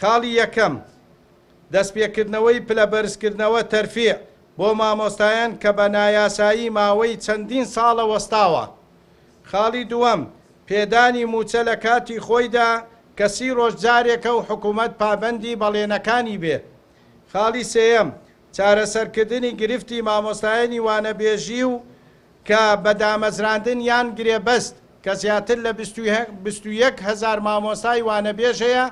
خاڵی یەکەم، دەستپێکردنەوەی پلە بەرزکردنەوە، تەرفیع، بۆ مامۆستایان کە بە نایاسایی ماوەی چەندین ساڵە وەستاوە. خاڵی دووەم، پێدانی مووچە لە کاتی خۆیدا کە سی ڕۆژ جارێکە و حکوومەت پابەندی بەڵێنەکانی بێ. خاڵی سێیەم، چارەسەرکردنی گرفتی مامۆستایانی وانەبێژی و کە بە دامەزراندن یان گرێبەست کە زیاتر لە بیست و یەک هەزار مامۆستای وانەبێژ هەیە،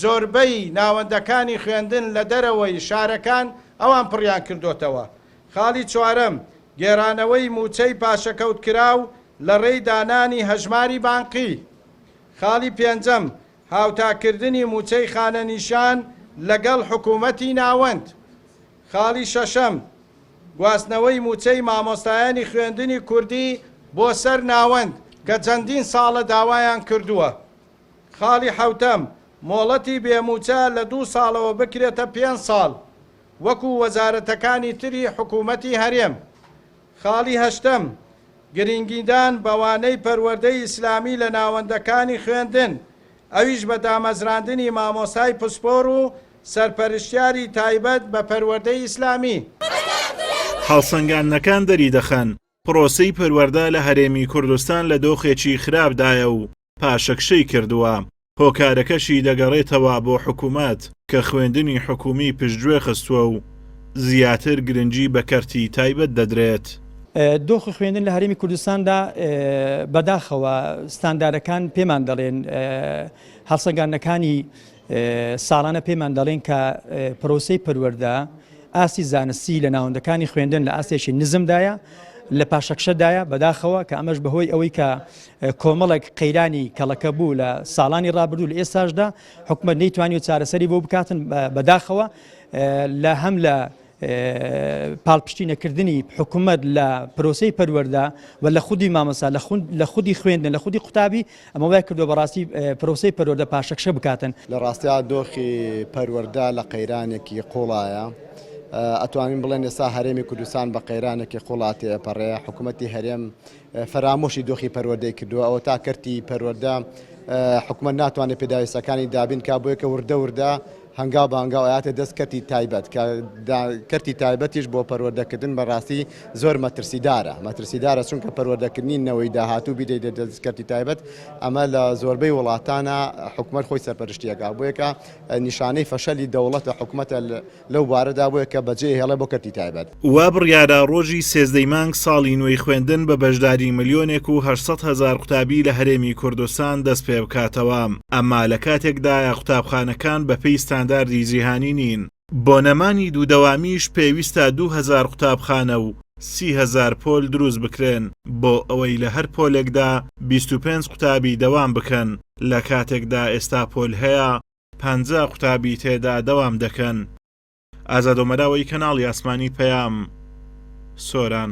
زۆربەی ناوەندەکانی خوێندن لە دەرەوەی شارەکان ئەوان پڕیان کردۆتەوە. خاڵی چوارەم، گێرانەوەی مووچەی پاشەکەوتکراو لە ڕێی دانانی هەژماری بانقی. خاڵی پێنجەم، هاوتاکردنی مووچەی خانەنیشان لەگەڵ حکوومەتی ناوەند. خاڵی شەشەم، گواستنەوەی مووچەی مامۆستایانی خوێندنی کوردی بۆ سەر ناوەند کە چەندین ساڵە داوایان کردووە. خاڵی حەوتەم، مۆڵەتی بێ مووچە لە دوو ساڵەوە بکرێتە پێنج ساڵ وەکو وەزارەتەکانی تری حکوومەتی هەرێم. خاڵی هەشتەم، گرینگیدان بەوانەی پەروەردەی ئیسلامی لە ناوەندەکانی خوێندن، ئەویش بە دامەزراندنی مامۆستای پسپۆر و سەرپەرشتیاری تایبەت بە پەروەردەی ئیسلامی. هەڵسەنگاندنەکان دەریدەخەن، پرۆسەی پەروەردە لە هەرێمی کوردستان لە دۆخێکی خراپدایە و پاشەکشەی کردووە، هۆکارەکەشی دەگەڕێتەوە بۆ حکومەت کە خوێندنی حکومی پشتگوێ خستووە و زیاتر گرنگی بە کەرتی تایبەت دەدرێت. دۆخی خوێندن لە هەرێمی کوردستاندا بەداخەوە ستاندارەکان پێمان دەڵێن، هەڵسەنگاندنەکانی ساڵانە پێمان دەڵێن کە پرۆسەی پەروەردە ئاستی زانستی لە ناوەندەکانی خوێندن لە ئاستێکی نزمدایە لە پاشەکشەدایە بەداخەوە کە ئەمەش بەهۆی ئەوەی کە کۆمەڵێک قەیرانی کەڵەکە بوو لە ساڵانی ڕابردوو لە ئێستاشدا حکومت نەیتوانی و چارەسەری بۆ بکاتن بەداخەوە لە هەم لە پاڵپشتی نەکردنی حکوومەت لە پرۆسی پەروەەردا و لە خودی مامەسا لە خودی خوێندن لە خودی قوتابی ئەمە وای کردو بەڕاستی پرۆسی پەروەەردە پاشەکشە بکاتن لە ڕاستیا دۆخی پەروەەردە لە قەیرانێکی قوڵایە. ئەتوانین بڵێن ئێستا هەرێمی کوردستان بە قەیرانێکی قوڵاتی ئەپەڕێ حکوومەتتی هەرێم فەرامۆشی دۆخی پەروەردەی کردووە ئەوەتا کەرتی پەروەردە حکومەت ناتوانێت پێداویستەکانی دابین کا بۆیە کە وردە وردە هەنگاو بە هەنگاو ئااتێ دەست کەتی تایبەت کەتی تایبەتیش بۆ پەروەردەکردن بەڕاستی زۆر مەترسیدارە مەترسیدارە چونکە پەروەردەکردنی نەوەی داهاتوو بیدەی دە دەست کەتی تایبەت ئەمە لە زۆربەی وڵاتانە حکومەت خۆی سەرپەرشتیەکە بۆیەکە نیشانەی فەشەلی دەوڵەتە حکوومەتە لەو بارەدا بۆیە کە بەجێ هێڵێ بۆ کەرتی تایبەت. وا بڕیارە ڕۆژی سێزدەی مانگ ساڵی نوێی خوێندن بە بەشداری ملیۆنێک و هەشت سەد هەزار قوتابی لە هەرێمی کوردستان دەست پێ بکاتەوە، ئەمە لە کاتێکدایە قوتابخانەکان بە پێی ستانداردی جیهانی نین، بۆ نەمانی دوو دەوامیش پێویستە دوو هەزار قوتابخانە و سی هەزار پۆل دروست بکرێن بۆ ئەوەی لە هەر پۆلێکدا بیست و پێنج قوتابی دەوام بکەن، لە کاتێکدا ئێستا پۆل هەیە، پەنجا قوتابی تێدا دەوام دەکەن. ئازادۆمەراوەی کەناڵی ئاسمانی پەیام سۆران.